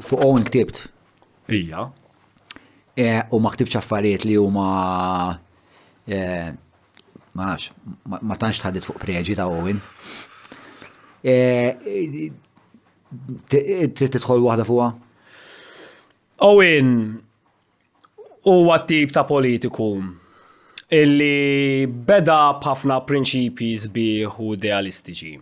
Fuqhom inktibt. Ija. E, u ma ktibx affarijiet li huma e, ma nafx, ma tantx tħaddit fuq preġi ta' Owen. E, trid tidħol waħda fuqha? Owen huwa tip ta' politiku illi beda b'ħafna prinċipji sbieħ u idealistiċi.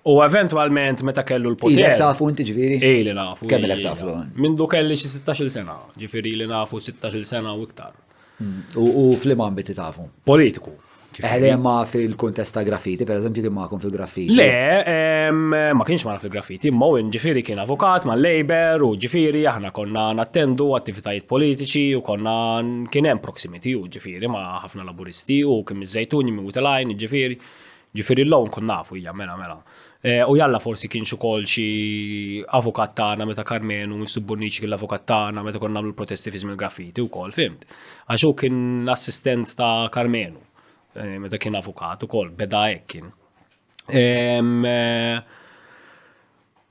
U eventualment meta kellu l-poter. Ilek tafu inti ġviri? Ili nafu. Kemm ilek tafu? Mindu kelli xi 16 sena, ġifiri li nafu 16 sena u iktar. Mm. U fl-imma ambiti tafu? Politiku. Eħle ma fil-kontest ta' graffiti, per eżempju, kien ma'kom fil-graffiti. Le, ma kienx ma fil-graffiti, ma u ġifiri kien avukat ma' labor u ġifiri aħna konna nattendu attivitajiet politiċi u konna kien hemm proximity u ġifiri ma' ħafna laburisti u kien mizzajtuni minn u telajn ġifiri. Ġifieri llum nkun nafu, ija, mela, mela. U jalla forsi kienx ukoll xi avukat tagħna meta Karmenu Mifsud Bonnici kien l-avukat tagħna meta konna nagħmlu l-protesti fi żmien graffiti wkoll, fhimt? Għax hu kien assistent ta' Karmenu meta kien avukat ukoll, beda hekk kien.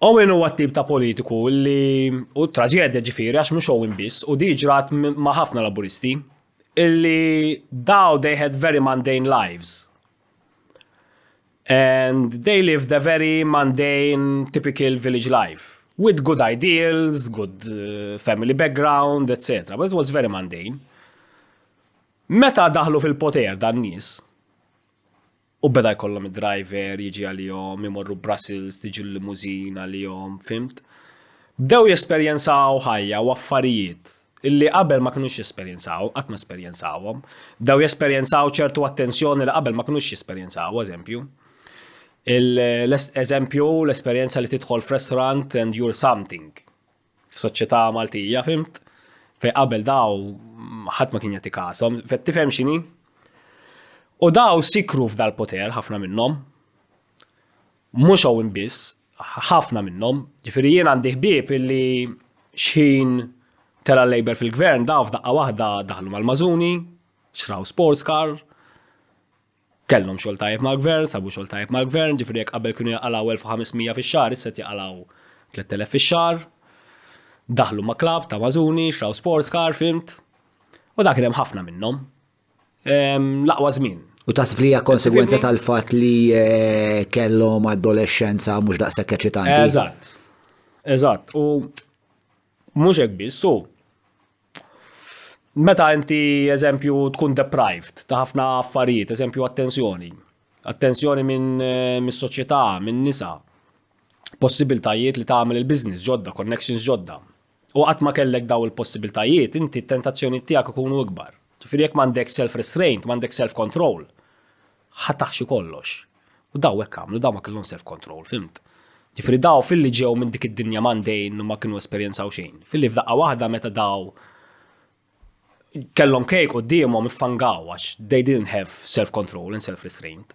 Owen huwa t-tip ta' politiku li u traġedja ġifieri għax mhux Owen biss u di ġrat ma' ħafna Laburisti illi daw they had very mundane lives and they live the very mundane typical village life with good ideals, good uh, family background, etc. But it was very mundane. Meta daħlu fil-poter dan nies, u beda jkollhom id-driver jiġi għalihom, imorru Brussels, tiġi l-limuzin għalihom, fimt? Bdew jesperjenzaw ħajja u affarijiet li qabel ma kinux jesperjenzaw, qatt ma esperjenzawhom. Bdew jesperjenzaw ċertu attenzjoni li qabel ma kinux jesperjenzaw, eżempju. L-eżempju, l-esperjenza li tidħol f'restaurant and you're something. F'soċjetà Maltija, fimt? Fej qabel daw ħadd ma kien jagħti kasom, fet tifhem x'inhi? U daw sikru f'dal-poter ħafna minnhom. Mhux Owen biss, ħafna minnhom. Ġifieri jien għandi ħbieb illi xħin tela' l-Labour fil-Gvern daw f'daqqa waħda daħlu mal-Mażuni, xtraw sports car, kellhom xogħol tajjeb mal-Gvern, sabu xogħol tajjeb mal-Gvern, ġifieri jekk qabel kienu jaqalgħu 1500 fix-xahar issa qed jaqalgħu 3000 fix-xahar. Daħlu ma' klabb ta' Mażuni, xtraw sports car, fhimt? U dak kien hemm ħafna minnhom. l-aqwa żmien. U taħseb li hija konsegwenza tal-fatt li eh, kellhom adolescenza mhux daqshekk eċitanti. Eżatt. Eżatt. U mhux hekk biss, so meta inti eżempju tkun deprived ta' ħafna affarijiet, eżempju attenzjoni, attenzjoni minn eh, mis-soċjetà, minn nisa, possibiltajiet li tagħmel il-business ġodda, connections ġodda, U qatt ma kellek dawn il-possibiltajiet, inti t-tentazzjonijiet tiegħek ikunu ikbar. Ġifieri jekk m'għandekx self-restraint, m'għandekx self-control, ħa taħxi kollox. U dawn hekk għamlu, dawn ma kellhomx self-control, fhimt? Ġifieri dawn filli ġew minn dik id-dinja mundane u ma kienu esperjenzaw xejn, filli f'daqqa waħda meta dawn kellhom kejk qudiemhom iffangaw għax they didn't have self-control and self-restraint.